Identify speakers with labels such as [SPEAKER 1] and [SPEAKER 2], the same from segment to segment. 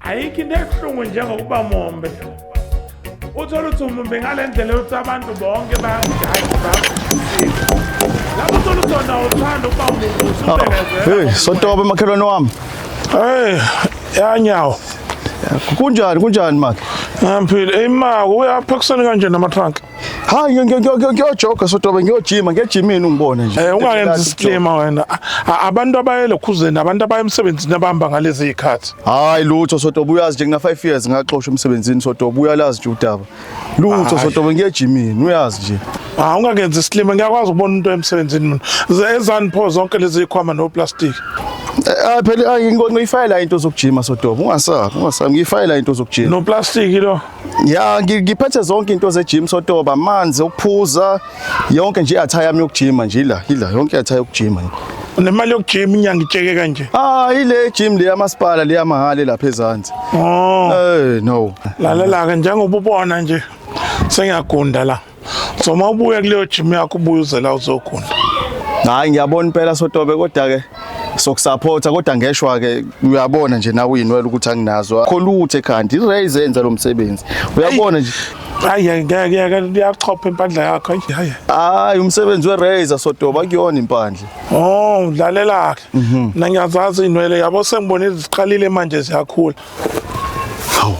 [SPEAKER 1] ayikho into ebuhlungu njengokuba mombe uthole ukuthi umumbe ngale ndlela yokuthi abantu bonke bayakujaji bayakujaji lapho uthole ukuthi wona uthanda ukuba umumbe usubelezela sotobe
[SPEAKER 2] makhelwane wami hey
[SPEAKER 1] yanyawo
[SPEAKER 2] kunjani kunjani maki ngiphile eyi
[SPEAKER 1] mako uyaphekisani kanje namatrunk Hayi
[SPEAKER 2] ngiyojoga sotobe ngiyojima ngiyejimini ungibone nje. Eh ungayenzi isiclima
[SPEAKER 1] wena. Abantu abaye lokhuzeni abantu abaye emsebenzini abahamba ngalezi zikhathi. Hayi lutho sotobe
[SPEAKER 2] uyazi nje ngina 5 years ngaxoshwa emsebenzini sotobe uyalazi nje udaba. Lutho sotobe ngiyejimini uyazi nje. Ah ungakenzi isiclima
[SPEAKER 1] ngiyakwazi ukubona umuntu emsebenzini mina. Ezani pho zonke lezi zikhwama no plastic. Eh, ah phela
[SPEAKER 2] ngiyifayela into zokujima sodobo ungasabi ungasabi ngiyifayela into zokujima no plastic lo
[SPEAKER 1] Ya ngiphethe
[SPEAKER 2] zonke into ze gym sotoba amanzi okuphuza yonke nje i-attire yami yokujima nje ila ila yonke i-attire yokujima nje. Nemali yokujima
[SPEAKER 1] inyanga itsheke kanje. Ah ile gym le
[SPEAKER 2] yamasipala le yamahale lapha ezansi. Oh. Eh no. Lalela ke
[SPEAKER 1] njengoba ubona nje sengiyagunda la. So mawubuya kuleyo gym yakho ubuye uzela uzogunda. Hayi
[SPEAKER 2] ngiyabona impela sotobe kodwa ke sokusupporta kodwa ngeshwa ke uyabona nje nawe uyinwela ukuthi anginazo akho lutho ekhanda iraise enza lo msebenzi uyabona nje hayi ngeke
[SPEAKER 1] yaka liyachopha impandla yakho hayi hayi
[SPEAKER 2] umsebenzi we-razor sodoba kuyona impandla oh udlalela-ke
[SPEAKER 1] mhm. mina ngiyazazi inwele yabo sengibona iziqalile manje ziyakhula Hawu.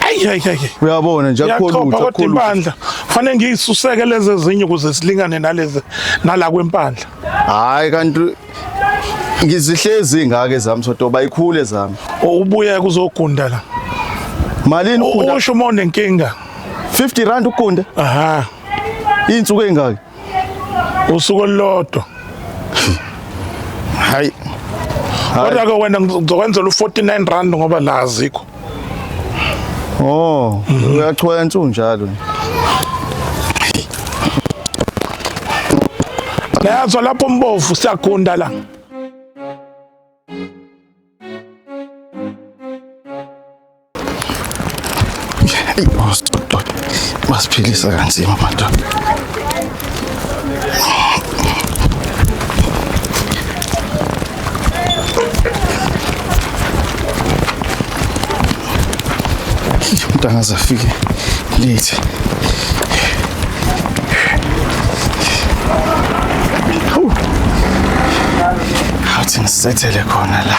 [SPEAKER 2] Ayi ayi ayi. Uyabona nje akukho lutho akukho lutho. Impandla
[SPEAKER 1] fanele ngiyisuseke lezi ezinye ukuze silingane nalezi nala kwempandla. Hayi kanti
[SPEAKER 2] ngizihlezi ngake zami soto bayikhule zami. Ubuye
[SPEAKER 1] kuzogunda la. Malini
[SPEAKER 2] ugunda? Usho uma unenkinga.
[SPEAKER 1] 50 rand
[SPEAKER 2] ugunda? Aha. Insuku engaki? usuku
[SPEAKER 1] olulodwa
[SPEAKER 2] hayi kodwa
[SPEAKER 1] ke wena ngizokwenzela u49 rand ngoba la azikho oh
[SPEAKER 2] uyathwensa unjalo
[SPEAKER 1] Nayazwa lapho mbovu siyagunda la
[SPEAKER 2] Eyi madoda, basiphilisa kanzima madoda. umuntu angaze afike late awuthi ngisethele khona la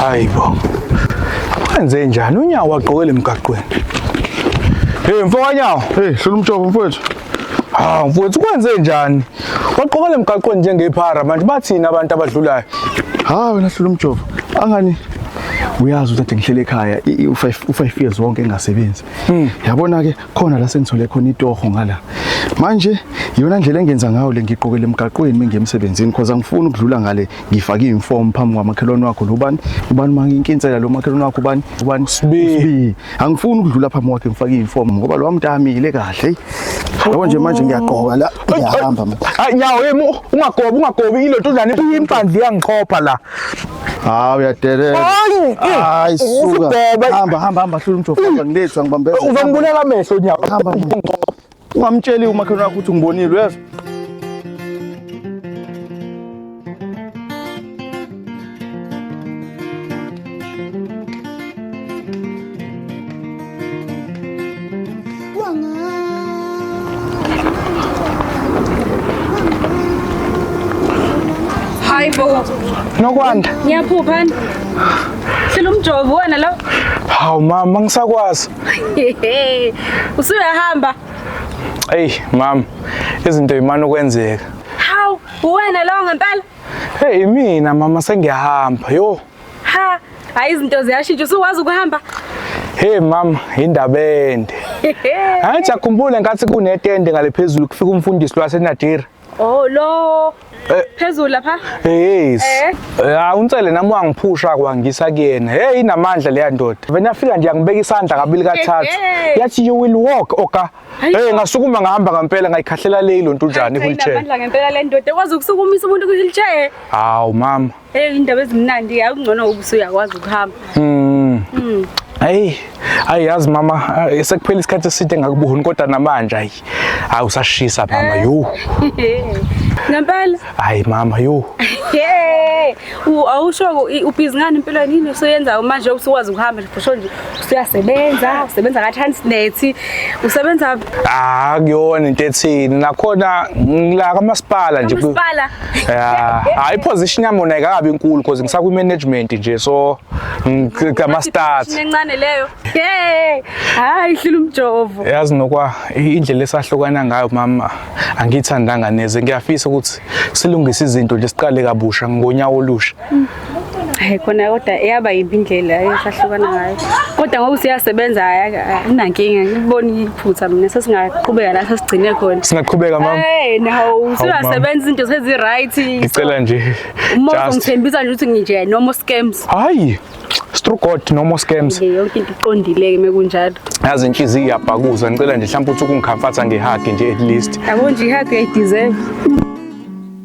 [SPEAKER 3] Hayi bo. Wenze njani unyawo wagqokela emgaqweni? Hey mfokanyawo, hey hlula umjobo mfowethu.
[SPEAKER 2] Hawu mfowethu
[SPEAKER 3] kwenze njani? Wagqokela emgaqweni njengephara manje bathini abantu abadlulayo? Ha wena hlula
[SPEAKER 2] umjobo. Angani uyazi ukuthi ngihlele ekhaya u5 u5 years wonke engasebenzi. Mm. Yabona ke khona la sengithole khona itoho ngala. Manje yona ndlela engenza ngayo le ngiqokele emgaqweni mengemsebenzini because angifuni ukudlula ngale ngifake iform phambi kwamakhelwane wakho lobani ubani uma nginkinsela lo makhelwane wakho ubani ubani sibi angifuni ukudlula phambi kwakhe ngifake iform ngoba lo mntamile kahle Yabo nje manje ngiyaqoka la ngiyahamba. Hayi nyawo yemi
[SPEAKER 3] ungagobi ungagobi ilento njani impandla iyangiqhopha la. Hawu
[SPEAKER 2] uyadelela. Hayi. Hayi eh, suka. Hamba hamba hamba hlula umjofa eh, ngilethwa ngibambeza. Uzongibulala amehlo
[SPEAKER 3] nyawo. Hamba.
[SPEAKER 2] Ungamtsheli umakhelwane wakho ukuthi ngibonile uyezwa.
[SPEAKER 3] Hayi bo,
[SPEAKER 4] Nokwanda. ngiyaphupha ani? Hlela umjovo wena lo. Hawu mama,
[SPEAKER 3] angisakwazi. Hehe.
[SPEAKER 4] Usuyahamba. Ey
[SPEAKER 3] mama, izinto imana ukwenzeka. Hawu,
[SPEAKER 4] uwena lo ngempela. Hey mina
[SPEAKER 3] mama sengiyahamba. Yo,
[SPEAKER 4] Ha, hayi izinto ziyashintsha usuwazi ukuhamba. Hey
[SPEAKER 3] mama, indaba ende. Angithi akhumbule ngathi kunetende ngale phezulu kufika umfundisi lwaseNadira. Oh lo eh.
[SPEAKER 4] phezulu lapha. Yes.
[SPEAKER 3] Eh. Ya eh, unsele nami wangiphusha kwangisa kuyena. Hey inamandla leya ndoda. Vena fika nje angibeka isandla kabili kathathu. Yathi you will walk oka. Hey ngasukuma ngahamba ngempela ngayikhahlela le lonto njani wheelchair. Inamandla ngempela le ndoda
[SPEAKER 4] kwazi ukusukumisa umuntu ku wheelchair. Hawu mama.
[SPEAKER 3] Hey indaba ezimnandi
[SPEAKER 4] yakungcono ubusuyakwazi ukuhamba. Mm.
[SPEAKER 3] Mm. Hey, hayi yazi mama, eh, sekuphela isikhathi eside ngakubuhuni kodwa namanje hayi. Hayi usashisa mama, eh. yo.
[SPEAKER 4] Ngempela? Hayi mama,
[SPEAKER 3] yo. Hey,
[SPEAKER 4] awusho ubhizi ngani empilweni yini usuyenza manje usuwazi ukuhamba nje nje. usuyasebenza usebenza ka-transnet usebenza ah kuyona
[SPEAKER 3] into ethini nakhona ngila kamasipala nje kamasipala ya
[SPEAKER 4] hayi
[SPEAKER 3] iposition yami yona ayikabi inkulu because ngisakwi management nje so ngama start incane leyo
[SPEAKER 4] hey hayi hlula umjovo yazi nokwa
[SPEAKER 3] indlela esahlukana ngayo mama angiyithandanga neze ngiyafisa ukuthi silungise izinto nje siqale kabusha ngonyawo olusha hayi
[SPEAKER 4] khona kodwa eyaba yimbi indlela esahlukana ngayo kodwa ngoba useyasebenza anankinga ngibona iphutha mina sesingaqhubeka la sesigcine khona singaqhubeka mama hey
[SPEAKER 3] nawo
[SPEAKER 4] usuyasebenza izinto sezi right ngicela nje
[SPEAKER 3] umuntu ungithembisa
[SPEAKER 4] nje ukuthi nginje no more scams hayi
[SPEAKER 3] through God no more scams yonke into iqondile
[SPEAKER 4] ke mekunjalo yazi inhliziyo
[SPEAKER 3] iyabhakuza ngicela nje mhlawumbe ukuthi ukungikhamfatha ngehage nje at least yabo nje ihage i
[SPEAKER 4] deserve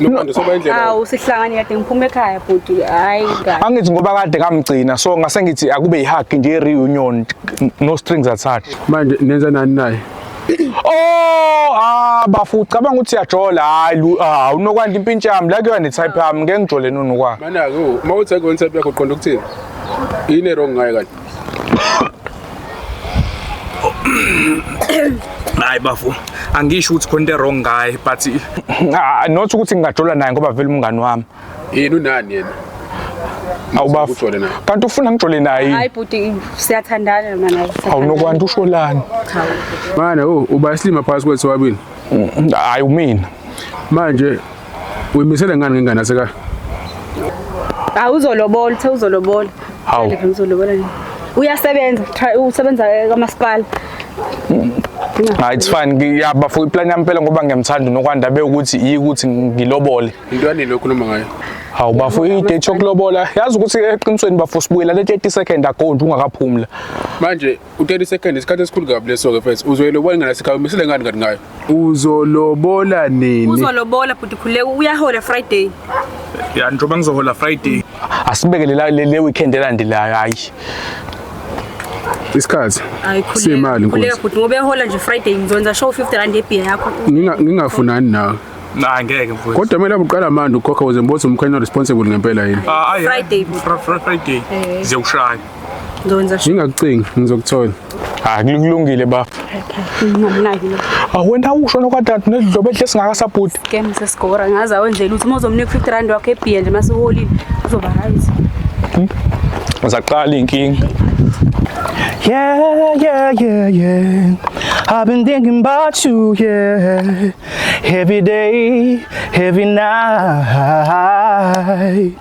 [SPEAKER 2] Nomando soba indlela. Awu sihlangani kade ngiphuma
[SPEAKER 4] ekhaya bhuti hayi kahle. Angithi ngoba kade
[SPEAKER 3] kamgcina so ngase ngithi akube ihug nje reunion no strings attached. Manje nenza nani
[SPEAKER 2] naye? Oh, ah
[SPEAKER 3] bafu ucabanga ukuthi uyajola hayi lu- ah unokwanda impintsha yami la kuyona type yami ngeke ngijole nonokwa. Mana-ke uma uthi
[SPEAKER 2] akuyona type yakho uqonda ukuthini? Yini erong ngayo kanti?
[SPEAKER 3] hayi bafo angisho ukuthi khona into wrong ngaye but ah, not ukuthi ngingajola naye ngoba vele umngani wami yini unani
[SPEAKER 2] yena
[SPEAKER 3] awubafo kanti ufuna ngijole naye hayi bhuti
[SPEAKER 4] siyathandana mina naye awunokwanti usholani
[SPEAKER 3] mana
[SPEAKER 2] oh, uba isilima phakathi kwethu wabini mm, hayi
[SPEAKER 3] umina manje
[SPEAKER 2] Uyimisele ngani ngengane aseka? Hayi
[SPEAKER 4] uzolobola, uthe uzolobola. Hawu. Phela
[SPEAKER 3] uzolobola nini?
[SPEAKER 4] Uyasebenza, try- usebenza kamasipala.
[SPEAKER 3] Hayi it's fine. Ngiyaba for iplan yami phela ngoba ngiyamthanda uNokwanda bewukuthi yikuthi ngilobole. Into yanini okhuluma
[SPEAKER 2] ngayo? Hawu bafo
[SPEAKER 3] i-date yokulobola. Yazi ukuthi eqinisweni bafo sibuyela le 30 second ago nje ungakaphumula. Manje
[SPEAKER 2] u-30 seconds isikhathi esikhulu kabi leso-ke mfethu uzoyilobola ingane yasekhaya umisile ngani kanti ngayo uzolobola nini uzolobola bhuti
[SPEAKER 4] khuleka uyahola friday ya njengoba
[SPEAKER 3] ngizohola friday asibeke lela- le le weekend elandelayo hayi
[SPEAKER 2] isikhathi Hayi, khuleka, siyimali khuleka nkosi bhuti ngoba
[SPEAKER 4] ehola nje friday ngizonza show 50 rand yebhiya yakho Nginga- ngingafunani nawe nah ngeke
[SPEAKER 2] mfowethu
[SPEAKER 3] kodwa kumele uqala manje
[SPEAKER 2] ukhokha ukuze ngibone ukuthi umkhanya responsible ngempela yini Ah, ayi, Friday. Fri- Fri-
[SPEAKER 4] friday Eh. ziyokushaya
[SPEAKER 3] Ngizokwenza
[SPEAKER 4] sure. Ngingakucingi ngizokuthola.
[SPEAKER 2] Ah kulungile
[SPEAKER 3] bafo. Okay. Ngimnaki
[SPEAKER 4] lo. Awena usho nokwadad
[SPEAKER 3] nedlobo ehle singakasabhuti. Game sesigora
[SPEAKER 4] ngaza wenzela ukuthi mozomnika 50 rand wakhe ebiya nje masiholile uzoba right. Hmm? Uzaqala
[SPEAKER 3] inkingi. Yeah, yeah,
[SPEAKER 5] yeah, yeah. I've been thinking about you, yeah. Every day, every night.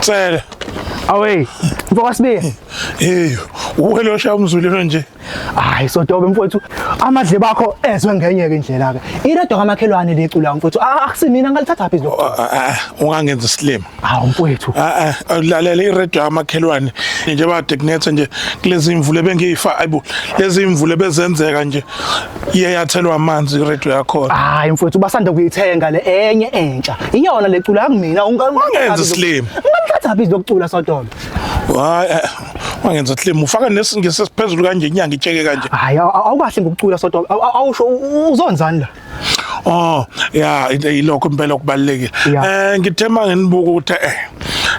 [SPEAKER 1] Cela. Away.
[SPEAKER 5] Mfoka Sibiya. Hey,
[SPEAKER 1] uwelosha umzulelo nje. Hayi sodobe
[SPEAKER 5] mfowethu. Amadle bakho ezwe ngenye ke indlela ke. Iredo kamakhelwane lecula mfowethu. Ah, akusimina ngalithatha phi lo? Oh, ah, ah, ah, ungangenza
[SPEAKER 1] isilima. Hawu mfowethu.
[SPEAKER 5] Ah, lalela
[SPEAKER 1] iredo kamakhelwane. Nje ba technetha nje kulezi imvule bengiyifa ayibo. Lezi imvule bezenzeka nje. iye yathelwa amanzi iredio yakhona hayi mfowethu basanda
[SPEAKER 5] kuyithenga le enye entsha iyona le cula yakumina Wangenza isilima.
[SPEAKER 1] ungamthathaphi izokcula
[SPEAKER 5] sodolo hayi eh,
[SPEAKER 1] wangenza isilima ufaka nesingisi esiphezulu kanje inyanga itsheke kanje hayi aw- aw- awukahle
[SPEAKER 5] ngokucula sodolo Aw- aw- awusho u- u- uzonzani la oh
[SPEAKER 1] ya into yilokho impela okubalekile Ya. eh ngithe manginibuka ukuthi eh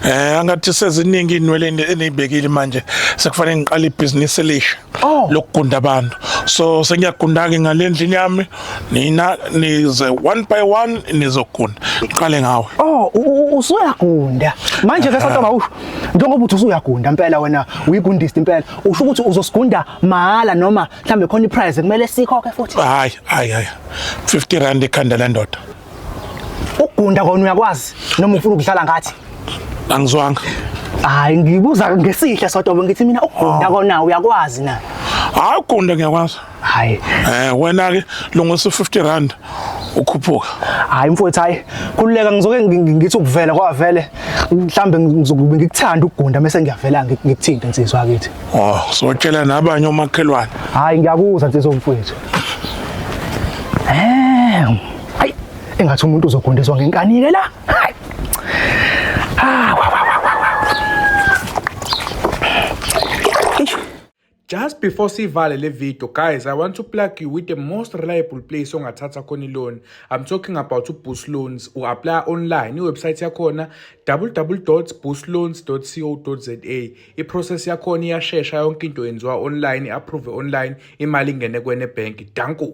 [SPEAKER 1] eh angathi seziningi inwele eni- enibekile manje sekufanele ngiqale ibhizinisi elisha Oh. lokugunda abantu so sengiyagunda-ke ngale ndlini yami nina nize one by one nizogunda ngiqale ngawe Oh, u- u-
[SPEAKER 5] usuyagunda manje ke satoba usho njengoba uthi usuyagunda impela wena uyigundist impela usho ukuthi uzosigunda mahhala noma mhlambe khona iprize kumele sikhokhe futhi hayi hayi hayi
[SPEAKER 1] 50 rand ikhanda lendoda
[SPEAKER 5] Ugunda kona uyakwazi noma ufuna ukudlala ngathi? Angizwanga.
[SPEAKER 1] Hayi
[SPEAKER 5] ngibuza ngesihle sodwa ngithi mina ugunda kona uyakwazi na? Hayi ugunda
[SPEAKER 1] ngiyakwazi. Hayi. Eh
[SPEAKER 5] wena ke
[SPEAKER 1] lungisa 50 rand ukhuphuka. Hayi mfowethu
[SPEAKER 5] hayi kululeka ngizoke ngithi ukuvela kwavele mhlambe ngizokube ngikuthanda ukugunda mase ngiyavela ngikuthinte nsizwa akithi. Oh sotshela
[SPEAKER 1] nabanye omakhelwane. Hayi ngiyakuzwa
[SPEAKER 5] nsizwa mfowethu. Eh hayi engathi umuntu uzogondezwa ngenkani ke la hayi ah wa wa wa wa wa
[SPEAKER 3] Eish. Just before sivale le video guys I want to plug you with the most reliable place ongathatha khona i-loan I'm talking about uBoost Loans u-apply online iwebsite yakhona www.boostloans.co.za iprocess yakhona iyashesha yonke into yenziwa online i-approve online imali ingene kwene bank danko